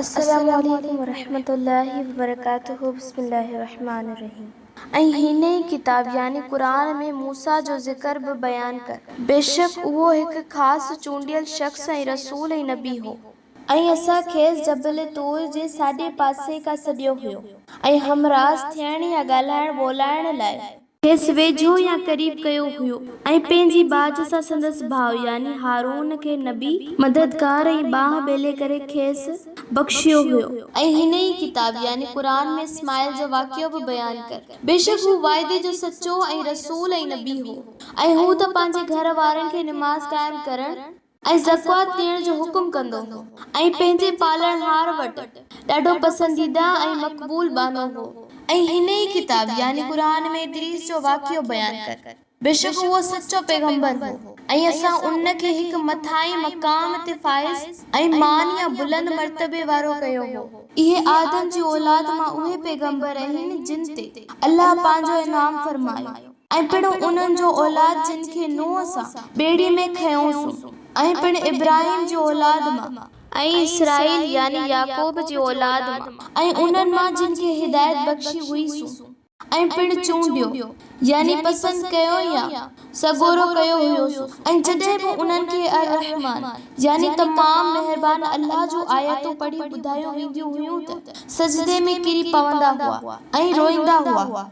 السلام عليڪم ورحمة الله وبرڪاته بسم الله الرحمٰن الرحيم ۽ هن ئي ڪتاب يعني قرآن ۾ موسيٰ جو ذڪر به بيان ڪر. بيشڪ اهو هڪ خاص چونڊيل شخص ۽ رسول ۽ نبي هو. ۽ اسان کيس جبل طور جي ساڄي پاسي کان سڏيو هيو. ۽ همراز ٿيڻ يا ڳالهائڻ ٻولائڻ لاء. کيس ويجهو يا قريب ڪيو هيو ۽ پنهنجي ٻاجهه سان سندس ڀاء يعني هارون کي نبي، مددگار ۽ ٻانهن ٻيلي ڪري کيس بخشيو هيو. ۽ هن ئي ڪتاب يعني قرآن ۾ اسماعيل جو واقعو به بيان ڪر، بيشڪ هو وعدي جو سچو ۽ رسول ۽ نبي هو، ۽ هو ته پنهنجي گهر وارن کي نماز قائم ڪرڻ، ۽ زڪوات ڏيڻ جو حڪم ڪندو هو ۽ پنهنجي پالڻهار وٽ ڏاڍو پسنديده ۽ مقبول ٻانهو هو. ۽ هن ئي ڪتاب يعني قرآن ۾ ادريس جو واقعو بيان ڪر، بيشڪ اهو سچو پيغمبر هو ۽ اسان ان کي هڪ مٿاهين مقام تي فائز ۽ مان يا بلند مرتبي وارو ڪيو هو. اهي آدم جي اولاد مان اهي پيغمبر اهن جن تي الله پنهنجو انعام فرمايو. ۽ پڻ انهن جو اولاد جن کي نوح سان ٻيڙي ۾ کنيوسون، ۽ پڻ ابراهيم جي اولاد مان، ۽ اسرائيل يعني يعقوب جي اولاد مان، ۽ انهن مان جن کي هدايت بخشي هئي سون، ۽ پڻ چونڊيو، يعني پسند ڪيو يا سڳورو ڪيو هيوسون، ۽ جڏهن به انهن کي الرحمان، يعني تمام مهربان الله جون آيتون پڙهي ٻڌايون وينديون هيون ته سجدي ۾ ڪري پوندا هئا، ۽ روئيندا هئا.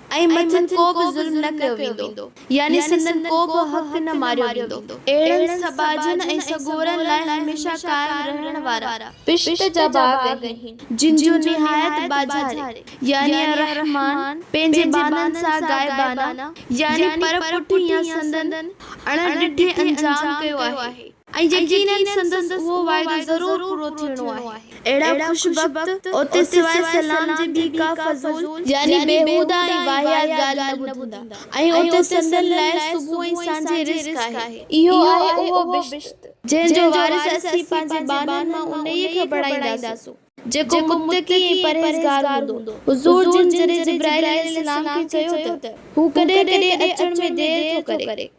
۽ مٿن ڪو به ظلم نه ڪيو ويندو، يعني سندن ڪو به حق نه ماريو ويندو. اهڙن سٻاجهن ۽ سڳورن لاء هميشه قائم رهڻ وارا پشت جا باغ آهن، جن جو نهايت ٻاجهاري، يعني الرحمان، پنهنجي ٻانهن سان غائبانه، يعني پر پٺي يا سندن اڻ ڏٺي انجام ڪيو آهي. ۽ يقينن سندس اهو وعدو ضرور پورو ٿيڻو آهي. اهڙا خوش بخت اوتي سواء سلام جي ٻي ڪا فضول، يعني بيهوده ۽ واهيات ڳالهه نه ٻڌندا، ۽ اوتي سندن لاء صبح ۽ سانجهي رزق آهي. اهو آهي اهو بهشت، جنهن جو وارث اسين پنهنجي ٻانهن مان انهيء کي بڻائينداسون، جيڪو متقي ۽ پرهيزگار هوندو. حضور جن جڏهن جبرائيل عليه السلام کي چيو ته، هو ڪڏهن ڪڏهن اچڻ ۾ دير ٿو ڪري.